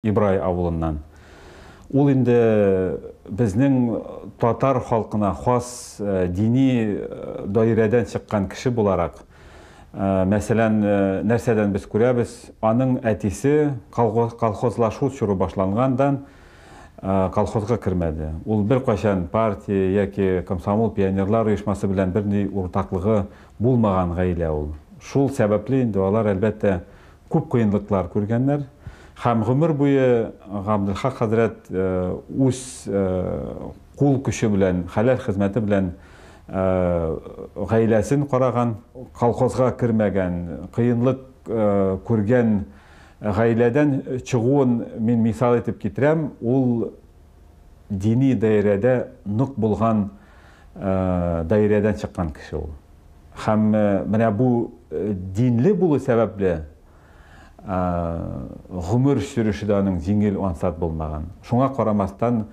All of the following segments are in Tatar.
Ибрай авылыннан. Ул инде безнең татар халкына хас дини даирәдән чыккан кеше буларак, мәсәлән, нәрсәдән без күрәбез, аның әтисе колхозлашу чоры башлангандан колхозга кермәде. Ул беркайчан партия яки комсомол, пионерлар оешмасы белән берни уртаклыгы булмаган гаилә ул. Шул сәбәпле инде алар, әлбәттә, Күп кыенлыклар күргәннәр һәм гомер буе Габделхак хәзрәт үз кул көче белән, хәләл хезмәте белән гаиләсен караган. Колхозга кермәгән, кыенлык күргән гаиләдән чыгуын мин мисал итеп китерәм. Ул. дини даирәдә нык булган даирәдән чыккан кеше ул. Һәм менә бу динле булу сәбәпле гомер сөреше дә аның җиңел, ансат булмаган. Шуңа карамастан,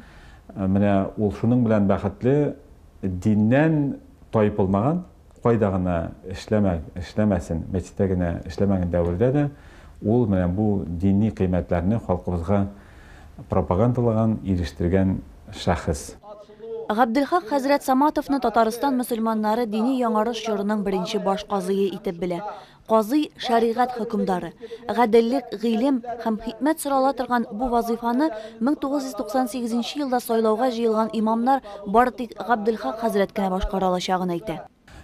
менә ул шуның белән бәхетле, диннән таеп булмаган, Кайда гына эшләмә, эшләмәсен, мәчеттә генә эшләмәгән дәвердә дә ул менә бу дини кыйммәтләрне халкыбызга пропагандалаган, ирештергән шәхес. Габделхак хәзрәт Саматовны Татарстан мөселманнары дини яңарыш чорының беренче баш казые итеп белә. Казый, шәригать хөкемдары. Гаделлек, гыйлем һәм хикмәт сорала торган бу вазыйфаны 1998 елда сайлауга җыелган имамнар бары тик Габделхак хәзрәт кенә башкара алачагын әйтә.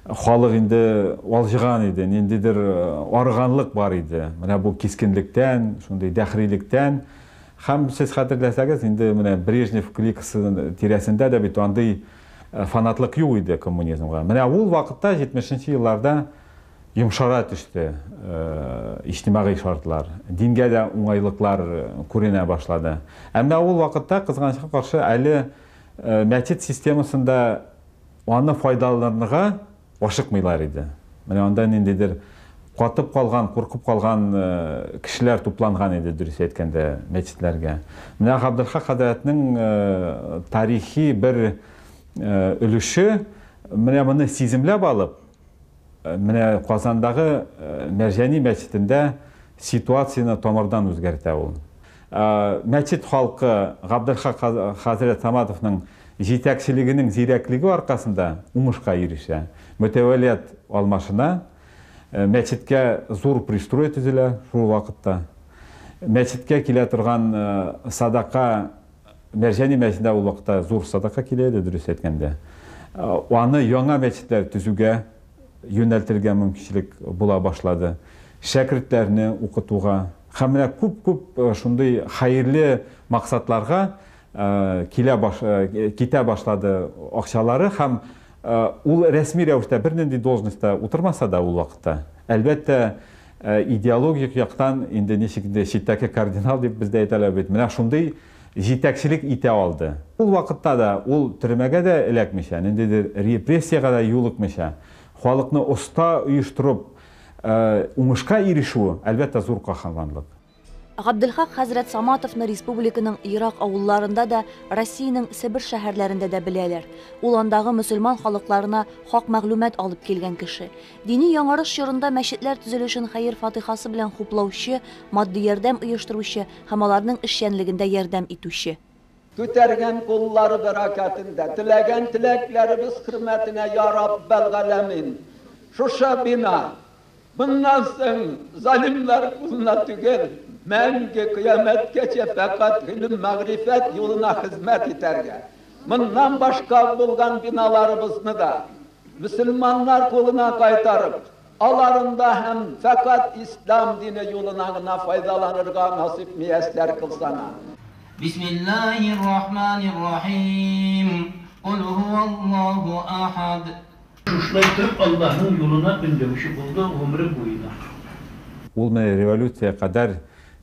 Халык инде алҗыган иде, ниндидер арыганлык бар иде, менә бу кискенлектән, шундый дәһрилектән. Һәм сез хәтерләсәгез, инде менә Брежнев кликасы тирәсендә дә бит андый фанатлык юк иде коммунизмга. Менә ул вакытта, 70 нче елларда, Йомшара төште иҗтимагый шартлар, дингә дә уңайлыклар күренә башлады. Ә менә ул вакытта, кызганычка каршы, әле мәчет системасын да аны файдаланырга ашыкмыйлар иде. Менә анда ниндидер катып калган, куркып калган кешеләр тупланган иде, дөрес әйткәндә, мәчетләргә. Менә Габделхак хәзрәтнең тарихи бер өлеше менә моны сиземләп алып, Менә Казандагы Мәрҗани мәчетендә ситуацияне тамырдан үзгәртә ул. Мәчет халкы Габделхак хәзрәт Саматовның җитәкчелегенең зирәклеге аркасында уңышка ирешә. Мөтәвәлият алмашына, мәчеткә зур пристрой төзелә шул вакытта. Мәчеткә килә торган садака, Мәрҗани мәчетенә ул вакытта зур садака килә иде, дөрес әйткәндә. Аны яңа мәчетләр төзүгә юнәлтергә мөмкинчелек була башлады. Шәкертләрне укытуга һәм менә күп-күп шундый хәерле максатларга килә китә башлады акчалары һәм ул рәсми рәвештә бернинди должностьта утырмаса да ул вакытта, әлбәттә, Ә идеологик яктан инде ничек инде читтәке кардинал дип бездә әйтәләр бит, менә шундый җитәкчелек итә алды. Ул вакытта да ул төрмәгә дә эләкмичә, ниндидер репрессиягә дә юлыкмыйча, халыкны оста оештырып уңышка ирешүе, әлбәттә, зур каһарманлык. Габделхак хәзрәт Саматовны республиканың ерак авылларында да, Россиянең Себер шәһәрләрендә дә беләләр. Ул андагы мөселман халыкларына хак мәгълүмат алып килгән кеше. Дини яңарыш чорында мәчетләр төзелешен хәер-фатыйхасы белән хуплаучы, матди ярдәм оештыручы һәм аларның эшчәнлегендә ярдәм итүче. Күтәргән куллары бәрәкәтендә, теләгән теләкләребез хөрмәтенә, йа Раббәл галәмин! Шушы бина, моннан соң залимнар кулына түгел, мәңге, кыямәткәчә фәкать гыйлем-мәгърифәт юлына хезмәт итәргә, моннан башка булган биналарыбызны да мөселманнар кулына кайтарып, Аларында һәм фәкать ислам дине юлына гына файдаланырга насыйп мияссәр кыл саңа. Бисмиллаһир рахманир рахим. Кул һуаллаһу ахад. Шушылай торып Аллаһның юлына өндәүче булды гомере буена. Ул менә революция кадәр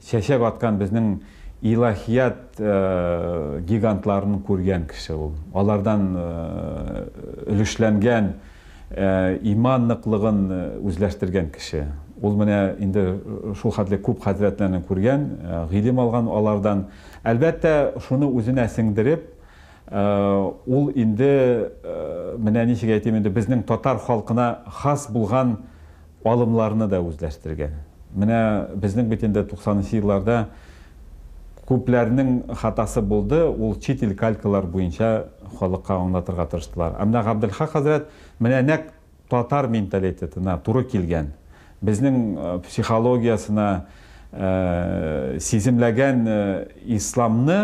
чәчәп аткан безнең илаһият гигантларын күргән кеше ул. Алардан өлешләнгән. Ә иман ныклыгын үзләштергән кеше, ул менә инде шулхәтле күп хәзрәтләрне күргән, гыйлем алган алардан. Әлбәттә, шуны үзенә сеңдереп, ул инде, менә ничек әйтим инде, безнең татар халкына хас булган, Алымларны да үзләштергән. Менә безнең бит инде туксанынчы елларда күпләрнең хатасы булды, ул чит ил калькалар буенча халыкка аңлатырга тырыштылар. Ә менә Габделхак хәзрәт менә нәкъ татар менталитетына туры килгән, безнең психологиясенә сиземләгән исламны,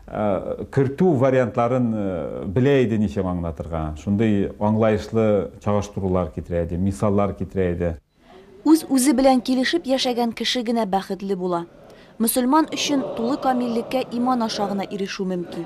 кертү вариантларын белә иде ничек аңлатырга, шундый аңлаешлы чагыштырулар китерә иде, мисаллар китерә иде. Үз-үзе белән килешеп яшәгән кеше генә бәхетле була. Мөселман өчен тулы камиллеккә иман аша гына ирешү мөмкин.